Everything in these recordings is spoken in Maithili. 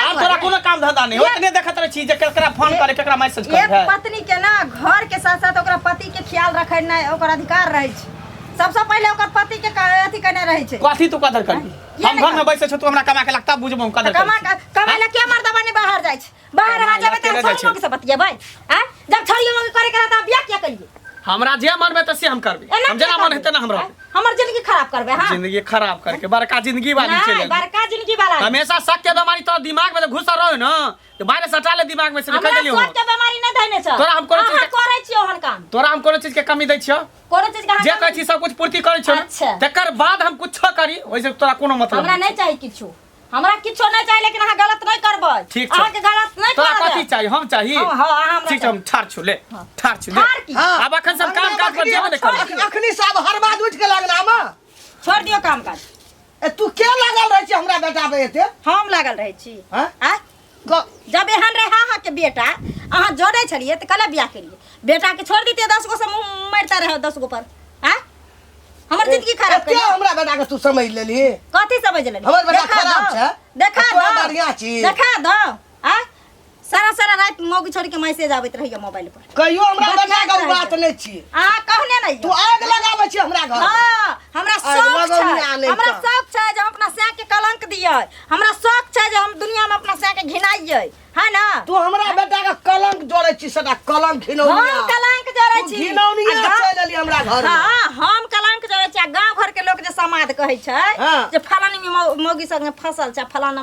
आब तोरा कोनो काम धंधा नहीं ओतने देखत रह छी जे केकरा फोन करे केकरा मैसेज करे एक पत्नी के ना घर के साथ साथ ओकरा पति के ख्याल रखे ना ओकर अधिकार रहे छै सबसे पहले ओकर पति के अथी करने रहे छै कथी तू कदर कर हम घर में बैसे छ तू हमरा कमा के लगता बुझबो कदर कर कमा कमा ले के मर्द बने बाहर जाय छै बाहर आ जाबे त छोड़ के से बतियेबै आ जब छोड़ियो करे के रहता बियाह किया करिए हमरा जे मन में त से हम करबे हम जेना मन हेते ना हमरा हमर जिंदगी खराब करबे हां जिंदगी खराब करके बड़का जिंदगी वाली चले नहीं बड़का जिंदगी वाला हमेशा शक के बीमारी तो दिमाग में घुसा रहो ना तो बाहर सटा ले दिमाग में से निकल गेलियो हमरा के बीमारी नहीं धने छ तोरा हम कोनो चीज करे छियो हन काम तोरा हम कोनो चीज के कमी दै छियो कोनो चीज के जे कहै छी सब कुछ पूर्ति करै छियो अच्छा तकर बाद हम कुछ करी ओइसे तोरा कोनो मतलब हमरा नहीं चाहिए किछु हमरा किछो नहीं चाहिए लेकिन अहाँ गलत नहीं करबै ठीक छै। अहाँ के गलत नहीं तोरा करबै कथी चाही हम चाही हाँ, हाँ, हाँ, हमरा ठीक छै हम ठार छु ले ठार छु ले ठाढ़ की? हाँ। आब अखन सब काम काज पर ध्यान दे कर अख- अखनी साहब हर बात उठ के लगना में छोड़ दियो काम काज ए तू के लागल रहे छी हमरा बेटा पे एते हम लागल रहै छी हैं? आ जब एहन रहे अहाँके बेटा अहाँ जोड़े छलिए तो कल बियाह करिए बेटा के छोड़ दीते दस गो से मुँह मरता रहे दस गो पर आँ हमर जिंदगी खराब कर हमरा बेटा के तू समझ लेली कथी समझ लेली हमर बेटा खराब छै देखा दो बढ़िया चीज देखा दो आ सारा सारा रात मौगी छोड़ के मैसेज आबत रहिए मोबाइल पर कहियो हमरा बतिया बना के उ बात कहियो। नहीं छी अहाँ कहने नहीं तू आग लगाबै छी हमरा घर हाँ, हमरा आइ शौक लगौनी छै आनै हमरा तऽ। शौक छै जे हम अपना सैं के कलंक दियै हमरा शौक छै जे हम दुनिया में अपना सैं के घिनाइयै है ना तू हमरा बेटा के कलंक जोड़ै छी सदा कलंक हम घिनौनिया कलंक जरै तू छी घिनौनिया आ गा- चलि एली हमरा घर में। हाँ हम कलंक जरै छी आ गांव घर के लोग जे समाद कहै छै हाँ। जे फलानी मौ- मौगी संगे फसल छै फलाना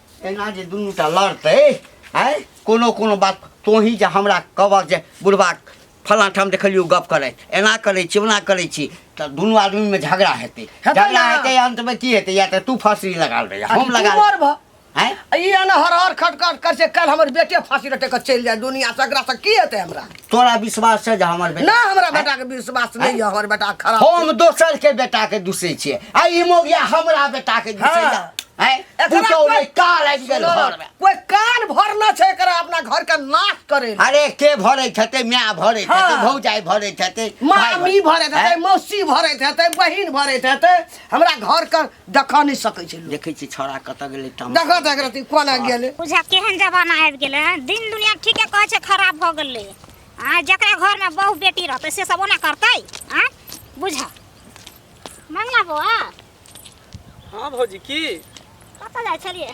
एना जे दुनू टा लड़तै आँय कोनो कोनो बात तोही जे हमरा कहबक जे बुढ़बा फलाँ ठाम देखलियौ गप करैत एना करै छी ओना करै छी तऽ दुनू आदमीमे झगड़ा हेतै हेतै झगड़ा ने। हेतै अन्तमे की हेतै या तऽ तू फाँसी लगा रही हम तू लगा मरबह। आँय ई एना हर हर खट खट कर से कल हमर बेटे फांसी लटक के चलि जाए दुनिया से एकरा से की हेतै हमरा तोरा विश्वास छै जे हमर बेटा ना हमरा बेटा के विश्वास नहीं है हमर बेटा खराब हम दोसर के बेटा के दूसै छियै आ ई मोगिया हमरा बेटा के दूसै हाँ। है एकरा पुतौ कोई- नै काल आबि गेल सुनो, घर में कोई कान भरना छै एकरा अपना घर के नाश करे ले। अरे के भरैत हेतै माय भरैत हेतै हाँ। भौजाइ भरैत हेतै भाय मामी भरैत हेतै हैं? मौसी भरैत हेतै बहिन भरैत हेतै हमरा घर के देखा नहीं सकै छै लोग देखै छी छौड़ा कतऽ गेलै तम देखा त एकरा ती कोना गेले बुझा केहन जमाना आबि गेलै हँ दिन दुनिया ठीके कहै छै खराब भऽ गेलै आ जकरा घरमे बहु बेटी रहतै से सब ओना करतै आ बुझा मंगला बौआ हँ भौजी की कतऽ जाइ छलियै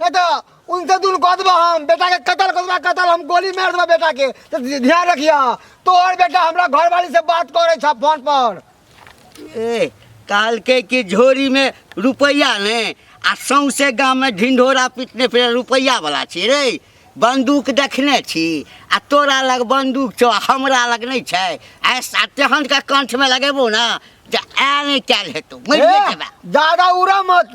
नहीं तो उनसे दून कह देबा हम बेटा के कत्ल कर देबा कत्ल हम गोली मार देबा बेटा के तो ध्यान रखिया तोहर बेटा हमरा घर वाली से बात करे छ फोन पर ए काल के की झोरी में रुपैया ने आ सौंसे गाँव में ढिंढोरा पीटने फिर रुपैया वाला छी रे बंदूक देखने छी आ तोरा लग बंदूक छौ आ हमरा लग नहीं छै ऐसा तेहन के कंठ में लगेबो ना जे आ नहीं कैल हेतौ मरिए ए, जेबा ज्यादा उड़ा मत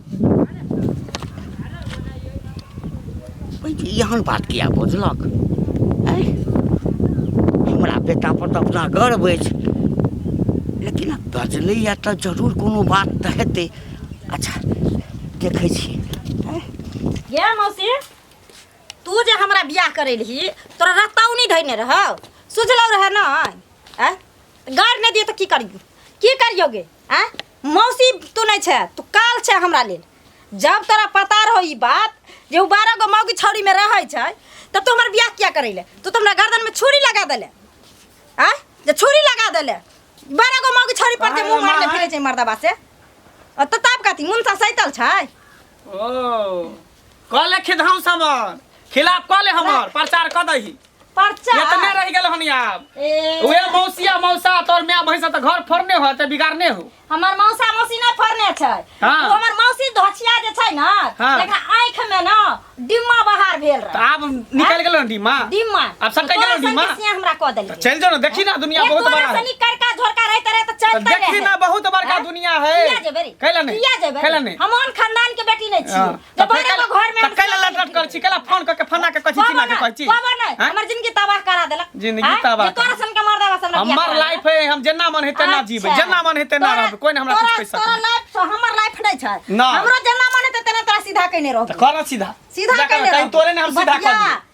एहन बात किया बजलक आँय हमरा बेटापर तऽ अपना गर्व अछि लेकिन बजलैए तऽ जरूर कोनो बात तऽ हेतै अच्छा देखै छी आँय गे मौसी तू जे हमरा बियाह करे रही तोरा रत्ताऊ नहीं धैने रहो सुझलो रहे ना आय गार नहीं दिए तो की करियो की करियो गे आ मौसी तू नहीं छे तू काल छे हमरा लेल जब तोरा पता रहो ई बात जे उ बारह गो मौगी छौरी में रहे छे तब तू हमर बियाह किया करैले तू तो हमरा गर्दन में छुरी लगा देले आ जे छुरी लगा देले बारह गो मौगी छौरी पर जे मुंह मारले फिरे छे मर्दाबा से अ त ताप काती मुन सा सैतल छे ओ कह ले खिधाऊ समर खिलाफ कह ले हमर प्रचार कह दही पर्चा इतने रह गेल हन आब ए, उहे मौसिया मौसा तोर माय भैंस त घर फोड़ने हो त बिगाड़ने हो हमर मौसा मौसी नहि फरने छै हाँ। ओ हमर मौसी धोछिया जे छै ने हाँ। एकरा आँखि मे ने डिम्मा बहार भेल त रहे आब निकल गेल हन डीमा डिम्मा आब सब कहि गेलौ डिम्मा? से हमरा कह देलियै त चल जाओ ना देखी ना दुनिया बहुत बड़ा है करका झोरका रहते रहे त त चलते देखी रहे ना बहुत बड़ा हाँ? दुनिया किया है जेबै रे? कैला नहीं किया जेबै कैला नहीं हम ओहन खानदान के बेटी नहीं छी हाँ, जे तऽ फेर बड़े को घर में तऽ कैला लट लट कर छी कैला फोन करके फना के कछि चिना के कर छी बाबा नहीं हाँ? हमर जिंदगी तबाह करा देलक जिंदगी हाँ? तबाह जे तोरा सन के मर्दा बा सन हमर लाइफ है हम जेना मन हेते ना जीबै जेना मन हेते ना रहबै कोई हमरा कुछ कहि तोरा सकत लाइफ से हमर लाइफ नहीं छै ना। हमरो जेना मन हेते तेना तोरा सीधा कइने रहब तऽ कर सीधा सीधा जाकर कइने कहीं रहब तोरे ने हम सीधा कर बतिया,